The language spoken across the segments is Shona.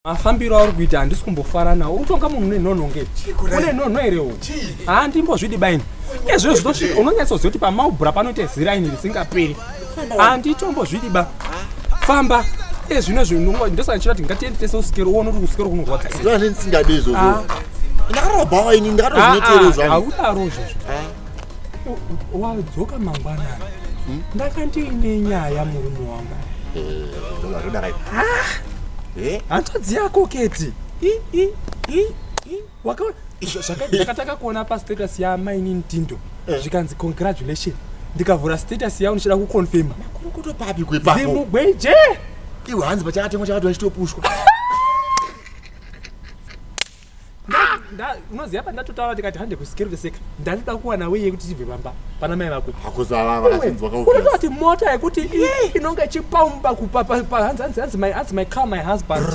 mafambiro auri kuita handisi kumbofara nawo uri kutonga munhu nenhonho nge une nhonho here u haa ndimbozvidi baini ezviro zvitosvika unonyatsoziva kuti pamaubhura panoita ziraini risingaperi handitombozvidi ba famba ezvino zvinhu ndosaka ndichita kuti ngatiende tese usikero uone kuti usikero kunorwadza ndosaka ndisingadi izvozvo ndakaroba waini ndakatozvinoteerezvaudarozvozvo wadzoka mangwanani hmm? ndakandiine nyaya murume wanga hanzvadzi yako keti zvakataka kuona pastatus yamaini ntindo eh. zvikanzi congratulation ndikavhura status yavo ndichida kuconfirma zimugweje iwe hanzi pachakatemwa chakati vachitopushwa unoziva pandatotaura ndikati hande kusikerveseka ndandida kuwana weye kuti tibve pamba pana mai vako hakuzaavaunoti mota yekuti inonge ichipaumba kupa hanzi my car my husband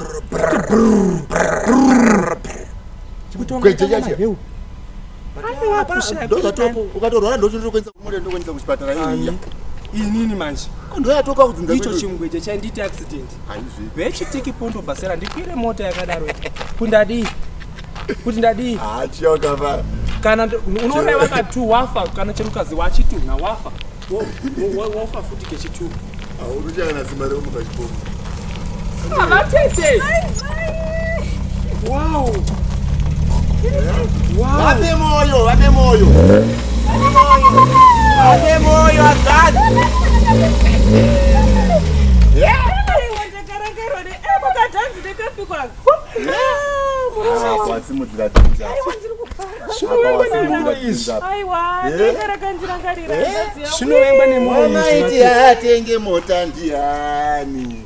ukatorwara ndochinotokuendesa kumota ndokuendesa kuchipatara inini manje ndoyatoka kudzinzaicho chimugweja chainditi accident vechitiki pondo basera ndikwire mota yakadaro kuti ndadii kuti ndadii ah, kana unoreva katu wafa kana chemukadzi wachitu na wafa wafa futi kechitu ah, uruchana simba remuka chipomo avatete ah, Wow. Wow. Wape moyo, wape moyo. Wape moyo akati. Yeah. Simudzira dzinza. Zvinovengwa nemoyo. Mama iti atenge mota ndiani.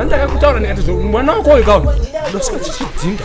andaka kutaura ndikati mwana wako uyu kaona ndosika chichidhinda